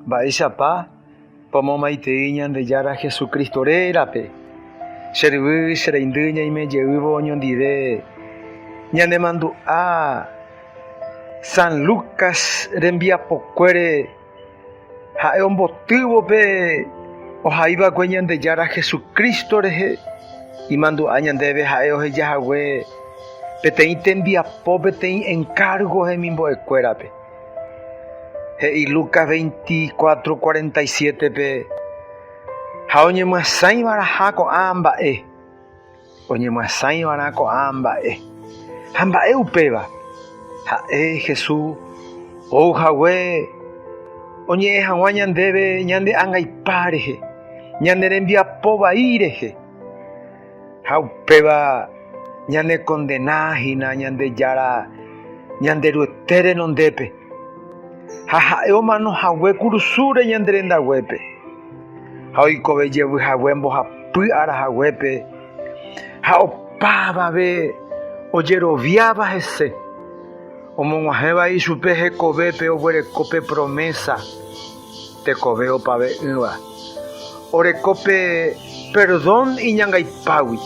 Mba'éichapa pomomaitei Ñandejára Jesucristo rérape? Che ryvy, che reindy ñaime jeývo oñondive ñanemandu'a San Lucas rembiapokuére, ha'e ombotývo pe ohaiva'ekue Ñandejára Jesucristo rehe. Imandu'a ñandéve ha'e oheja hague peteĩ tembiapo peteĩ enkárgo hemimbo'ekuérape. He'i Lucas 24:47-pe, Ha oñemyasãiva'erã ko'ã mba'e, oñemyasãiva'erã ko'ã mba'e. Ha mba'e upéva? Ha'e Jesús ou hague oñe'ẽ hag̃ua ñandéve ñande angaipa rehe, ñane rembiapo vai rehe. Ha upéva ñanekondena hína Ñandejára Ñanderuete renondépe, ha ha'e omano hague kurusúre ñande rendaguépe, ha oikove jevy hague mbohapy ára haguépe, ha opavave ojeroviáva hese, omog̃uahẽva ichupe hekovépe oguereko pe promésa. Tekove opave'ỹva oreko pe perdón iñangaipágui,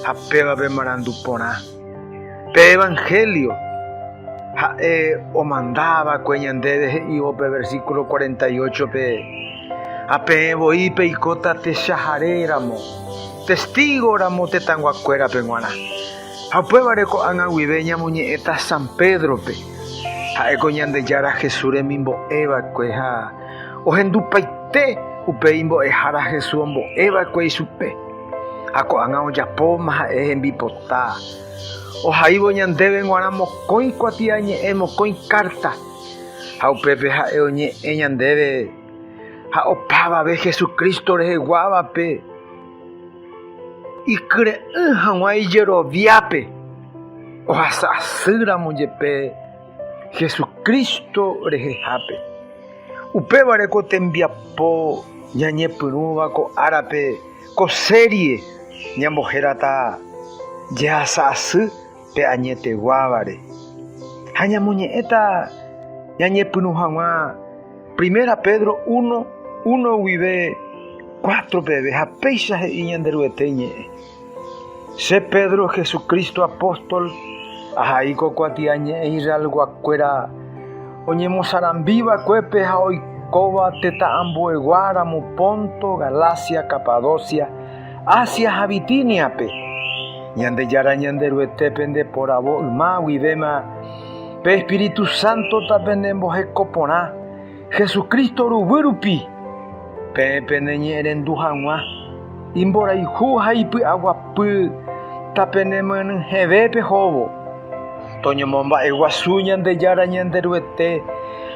ha péva pe marandu porã. Pe Evangelio ha'e omandava'ekue ñandéve he'ivo pe versículo cuarenta y ocho-pe, Ha peẽ voi peikóta techahare ramo, testígo ramo tetãguakuérape g̃uarã. Ha upévare ko'ág̃a guive ñamoñe'ẽta San Pédrope. Ha'éko Ñandejára Jesús remimbo'e va'ekue ha ohendupaite upéi mbo'ehára Jesús ombo'e va'ekue ichupe. Ha ko'ág̃a ojapóma ha'e hembipota. Ohaívo ñandéve g̃uarã mokõi kuatiañe'ẽ, mokõi kárta. Ha upépe ha'e oñe'ẽ ñandéve ha opavave Jesucristo reheguávape. Ikyre'ỹ hag̃ua ijeroviápe ohasa asy ramo jepe Jesucristo rehehápe. Upéva re ko tembiapo ñañepyrũva ko árape ko serie ñambohérata jehasa asy pe añeteguávare, ha ñamoñe'ẽta ñañepyrũ hag̃ua Primera Pedro uno, uno guive cuatro peve, ha péicha he'i Ñanderuete iñe'ẽ, Che Pedro, Jesucristo apóstol, ahai ko kuatia ñe'ẽ Israelguakuéra oñemosarambivakuépe ha oikóva tetã ambueguáramo Ponto, Galacia, Capadocia, Asia ha Bitíniape. Ñandejára Ñanderuete pende poravo yma guivéma pe Espíritu Sántota pende mboheko porã, Jesucristo ruguy rupi, peẽ pende ñe'ẽrendu hag̃ua, imborayhu ha ipy'aguapy ta pene myanyhẽve pehóvo. Toñomomba'eguasu Ñandejára Ñanderuete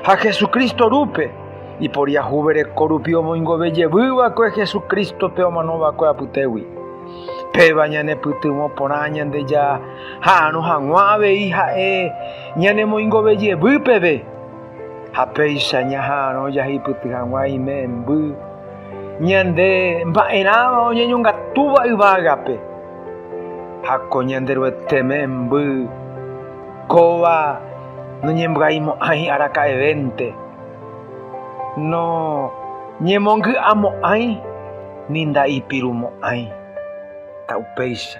ha Jesucristo rúpe. Iporiahuvereko rupi omoingove jevy va'ekue Jesucristo-pe omano va'ekue apytégui. Péva ñanepytyvõ porã Ñandejára ha'arõ haguã avei Ha'e ñanemoingove jevy peve. Ha péicha ñaha'arõ jahipyty haguã ime'ẽmby ñande mba'erãva oñeñongatúva yvágape. Ha ko Ñanderuete me'ẽmby kóva noñembyaimo'ãi araka'evénte. Noñemongy'amo'ãi ni nda'ipirumo'ãi. Ta upéicha.